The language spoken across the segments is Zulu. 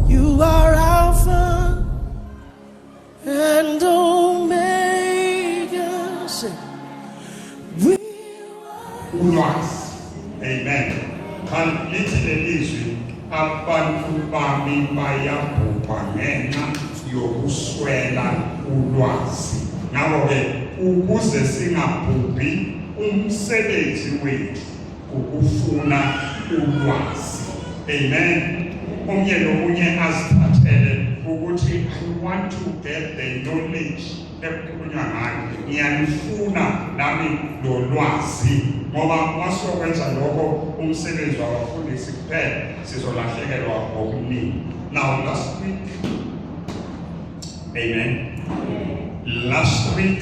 You are Alpha and Omega. Say, we ulwazi amen kanti lithi lelizwi abantu bami bayabhubha ngenxa yokuswela ulwazi ngakho-ke ukuze singabhubhi umsebenzi wethu ukufuna ulwazi amen omnye nomunye azithathele ukuthi i want to get the knowledge ekukhulunywa ngayo ngiyalifuna nami lolwazi ngoba masiyokwenza lokho umsebenzi wabafundisi kuphela sizolahlekelwa ngokuningi now last week amen last week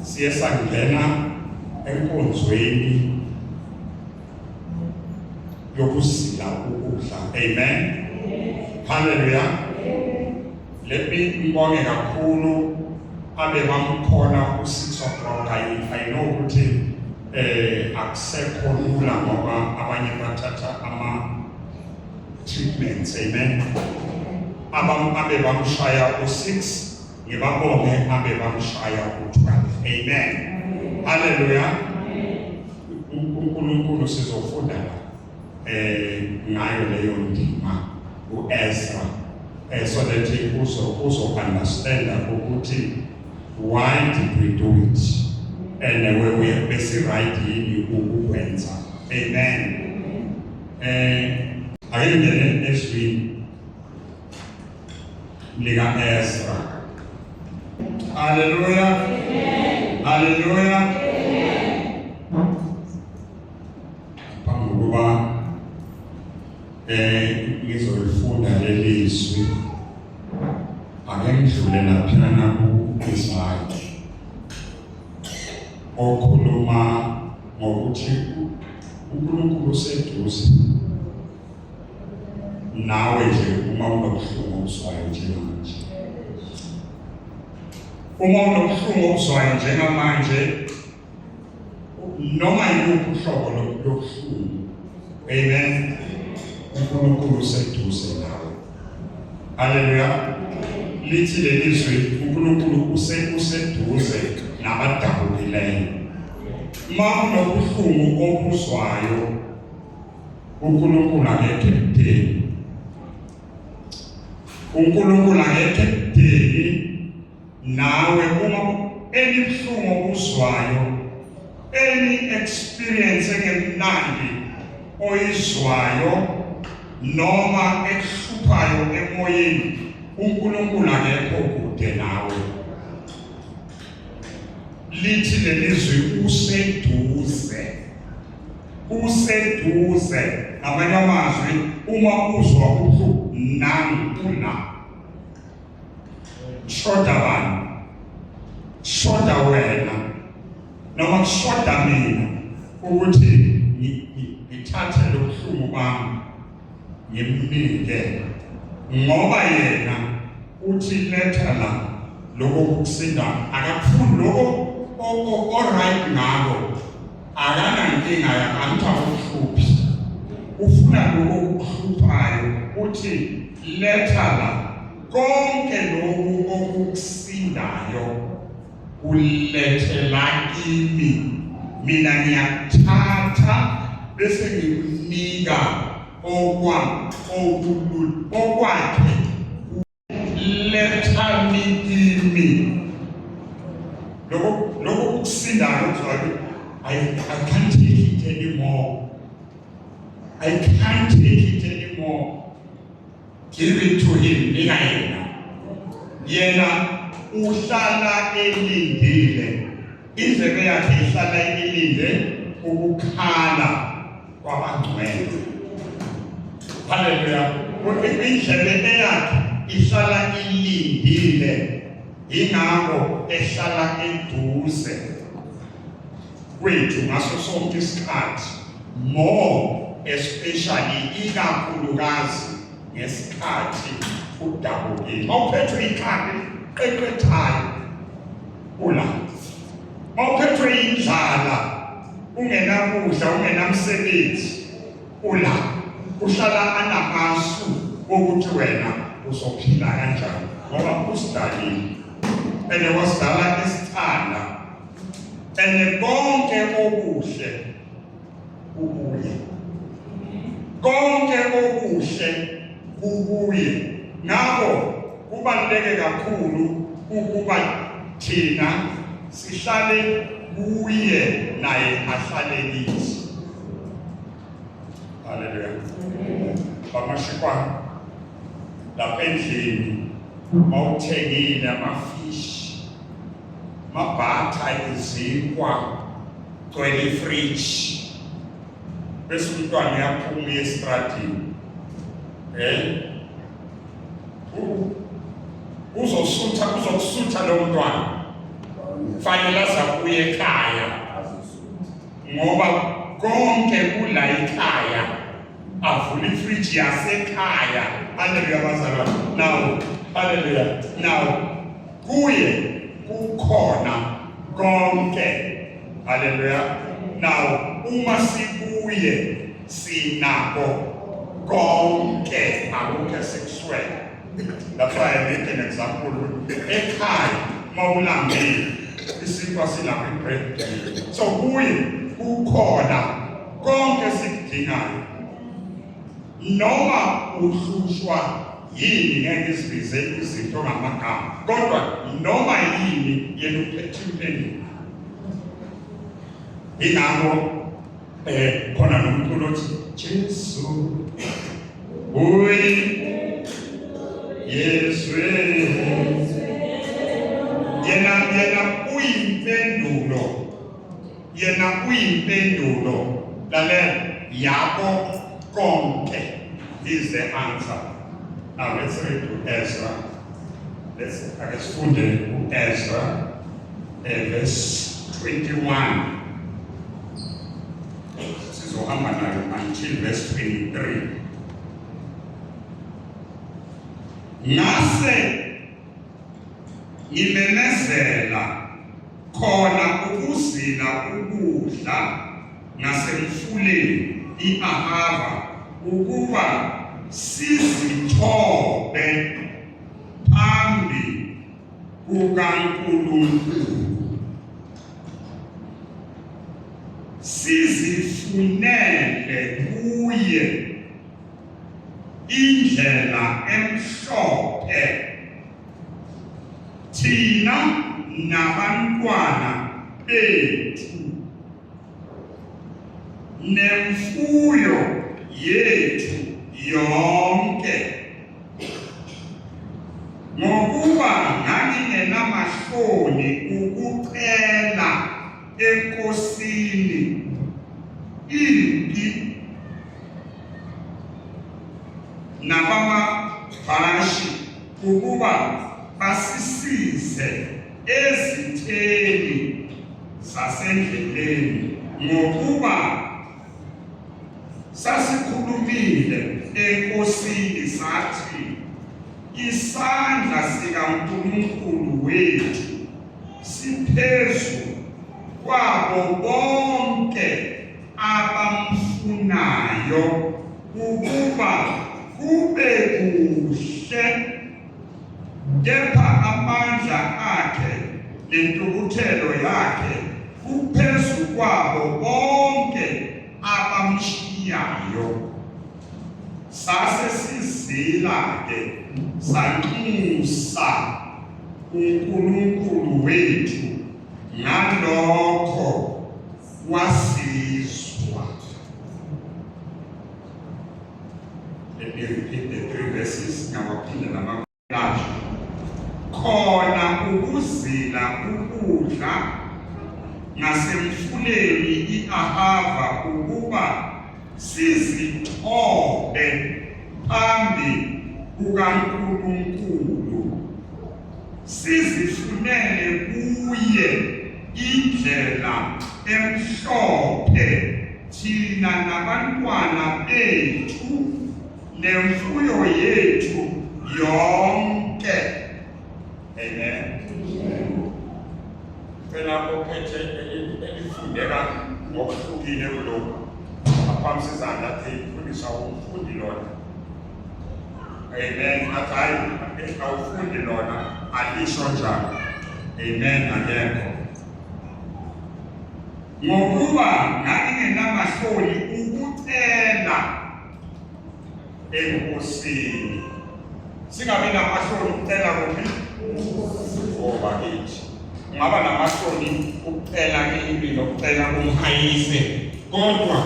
siye sangena enkonzweni yokusila ukudla amen haleluya le ngibonge kakhulu abe bamkhona usitho broka i know ukuthi eh akusekho lula ngoba abanye bathatha ama treatments amen abam abe bamshaya u6 ngibabonge abe bamshaya uthwala amen haleluya uNkulunkulu sizofunda la eh ngayo leyo ndima uEzra eh so that uzo uzo understand ukuthi why did we do it and we we bese right yini ukukwenza amen eh ayengene ezwini lika-Ezra. Haleluya, haleluya. Phambi kokuba um ngizolifunda leli zwi ake ngidlule laphana ku-Isaki okhuluma ngokuthi uNkulunkulu useduze nawe nje uma unobuhlungu obuzwayo njengamanje uma unobuhlungu obuzwayo njengamanje noma yiluphi uhlobo lobuhlungu amen unkulunkulu useduze nawe haleluya lithi leli zwi unkulunkulu useduze nabadabukileyo uma unobuhlungu obuzwayo uNkulunkulu akekho ekudeni uNkulunkulu akekho ekudeni nawe uma elibuhlungu okuzwayo any experience engemnandi oyizwayo noma ekuhluphayo emoyeni uNkulunkulu akekho kude nawe lithi lelizwi useduze kuseduze ngamanye amazwi uma uzwa ubuhlungu nami ula shoda bani shoda wena noma kushoda mina ukuthi ngithathe lo buhlungu bami ngimnike ngoba yena uthi letha la lokho kusinda akakufuni lokho o-right ngako akanankinga yakanitha uhluphi ufuna lokho kuhluphayo uthi letha la konke lokhu okukusindayo Kulethela kimi mina ngiyakuthatha bese ngikunika okwa okulu okwakhe letha kimi lokho lokho kusinda ngokuzwayo I, I can't take it anymore. I can't take it anymore. Give it to him, nika yena. Yena uhlala elindile. Indlebe yakhe ihlala ilinde ukukhala kwabangcwele. Haleluya. Indlebe eyakhe ihlala ilindile. Ingakho ehlala eduze. kwethu ngaso sonke isikhathi more especially ikakhulukazi ngesikhathi udabukile mawuphethwe ikhanda qeqethayo ula mawuphethwe indlala ungenakudla ungenamsebenzi ula uhlala anamasu ukuthi wena uzophila kanjani ngoba usidalile and wasidala isithanda and konke okuhle kukuye konke okuhle kukuye ngakho kubaluleke kakhulu ukuba thina sihlale kuye naye ahlale kithi haleluya bamashikwa lapha endlini mawuthengile amafishi mabhatha izinkwa gcwele ifridge bese umntwana uyaphuma esitradini eh uzosutha uzokusutha lo mntwana fanele azakuye ekhaya ngoba konke kula ikhaya avula ifridge yasekhaya haleluya bazalwane now haleluya now kuye kukhona konke haleluya now uma sikuye sinako konke akukho sikuswele that's why i make an example ekhaya mawulambile isinkwa silapha ibread so kuye kukhona konke esikudingayo noma uhlushwa yini ngeke isibize izinto ngamagama kodwa noma yini yena uphethe impendulo ingakho eh khona nomculo othi Jesu uyi Yesu yena yena uyimpendulo Yena uyimpendulo. Lalela, yabo konke is the answer. Now let's read to Ezra. Let's ake sifunde u-Ezra eh, verse 21. Sizohamba nayo until verse 23. Ngase ngimemezela khona ukuzila ukudla ngasemfuleni i-ahava ukuba sizithobe phambi kukaNkulunkulu sizifunele kuye indlela emhlophe thina nabantwana bethu nemfuyo yethu yonke ngokuba ngangingenamahloni ukucela enkosini impi nabamabhashi ukuba basisize ezitheni zasendleleni ngokuba sasikhulumile enkosini sathi isandla sikaNkulunkulu wethu siphezu kwabo bonke abamfunayo ukuba kube kuhle kepha amandla akhe nentukuthelo yakhe kuphezu kwabo bonke abamshiyayo sase sizila-ke sanxusa uNkulunkulu wethu ngalokho wasizwa. Let me repeat the three verses, ngawaphinde nama Lapho khona ukuzila ukudla ngasemfuleni i-Ahava ukuba sizithobe phambi kukaNkulunkulu sizifunele kuye indlela emhlophe thina nabantwana bethu nemfuyo yethu yonke amen cela ophethe elifundeka ngokuhlukile kulokhu aphakamisa izandla athi ifundisa umfundi lona amen athi hayi awufundi lona alisho njalo amen akekho ngokuba ngangingenamahloni ukucela enkosini singabi namahloni ukucela kuphi ngoba kithi ungaba namahloni ukucela impilo ukucela kumhayise kodwa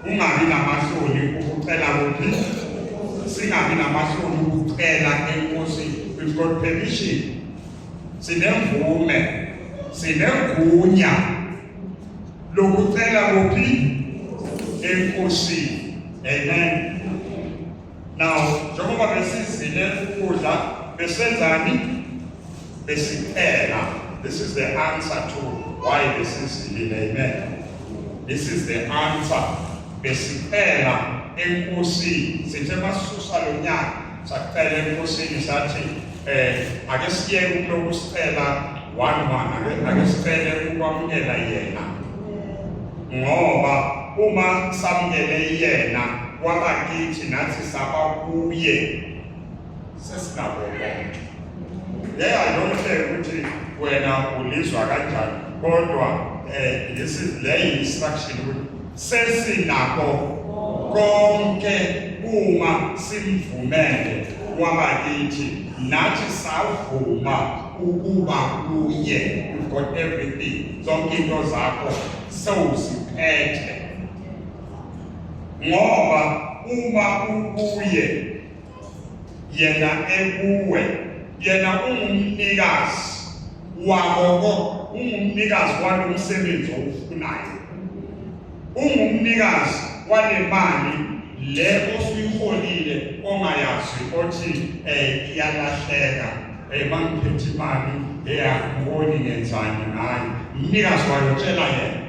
ungabi namahloni ukucela kuphi singabi namahloni ukucela enkosini we've got permission sinemvume sinegunya lokucela kuphi enkosini amen now njengoba besizile ukudla besenzani besicela this is the answer to why besizile amen this is the answer besicela enkosini sithe masisusa lo nyaka Sacela enkosini sathi um ake siyeke ukuloku sicela one one ake sicele ukwamukela yena ngoba uma samukele yena kwaba kithi nathi saba kuye sesinabo konke leya yonke ukuthi wena ulizwa kanjani kodwa um eh, lesi le instruction ukuthi sesinakho konke uma simvumele wabakithi nathi savuma ukuba kuye you've got everything zonke into zakho sewuziphethe ngoba uma ukuye yena ekuwe yena ungumnikazi wakoko ungumnikazi walo msebenzi owufunayo ungumnikazi wale mali le osuyiholile ongayazi othi um iyalahleka um mangiphethe imali eyakuboni ngenzani ngayo mnikazi wayo tshela yena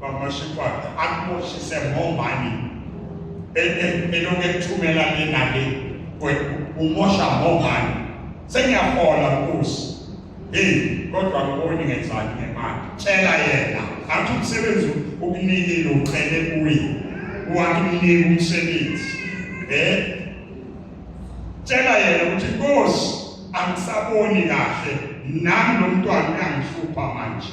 Bamashikwana akuboshise ngomani elokhu ekuthumela le nale umosha ngomani sengiyahola nkosi hey kodwa ngiboni ngenzani ngemali tshela yena athi umsebenzi ukunikile ucele kuye wakunika umsebenzi eh tshela yena ukuthi nkosi angisaboni kahle nami lo mntwana uyangihlupha manje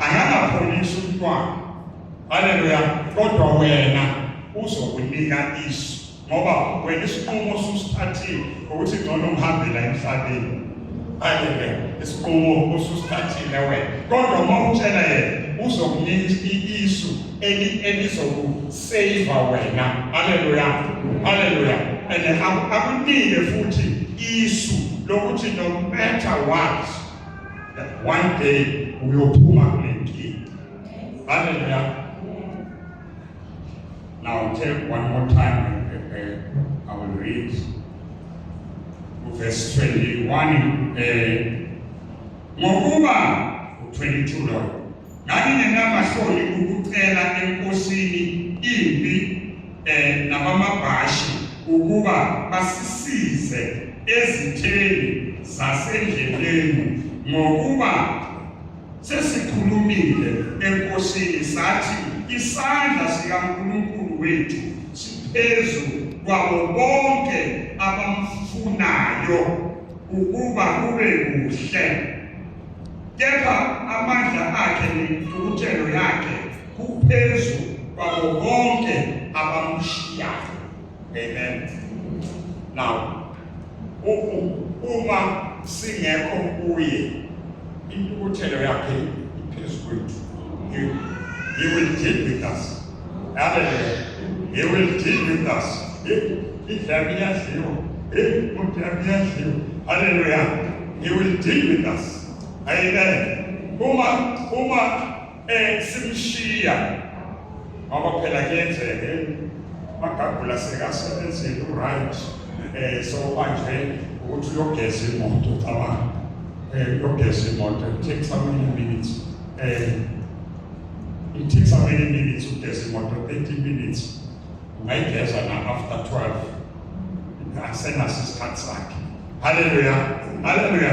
angangapholisi umntwana haleluya kodwa wena uzokunika isu ngoba wena isinqumo osusithathile ukuthi ngcono ngihambela emhlabeni haleluya isinqumo osusithathile wena kodwa uma utshela yena uzokunika isu elizokusayiva wena haleluya haleluya and akunike futhi isu lokuthi no matter what one day uyophuma kule nkinga haleluya now tell one more time uh, uh, i will read verse 21 uh, ngokuba u-22 loyo Ngangingenamahloni ukucela enkosini impi um nabamabhashi ukuba basisize ezitheni zasendleleni ngokuba sesikhulumile enkosini sathi isandla sikaNkulunkulu wethu siphezu kwabo bonke abamfunayo ukuba kube kuhle kepha amandla akhe nentukuthelo yakhe kuphezu kwabo bonke abamshiyayo amen now uma singekho kuye intukuthelo yakhe iphezu kwethu he will deal with us Hallelujah. He will deal with us. Hallelujah. He will deal with us. Amen. Uma uma eh simshiya ngoba phela kuyenzeke magagula sekasebenzile uright eh so manje ukuthi uyogeza imoto cabanga eh uyogeza imoto it takes some minutes eh It takes how many minutes ugeza imoto 30 minutes ungayigeza na after 12 asenaso isikhathi sakhe haleluya haleluya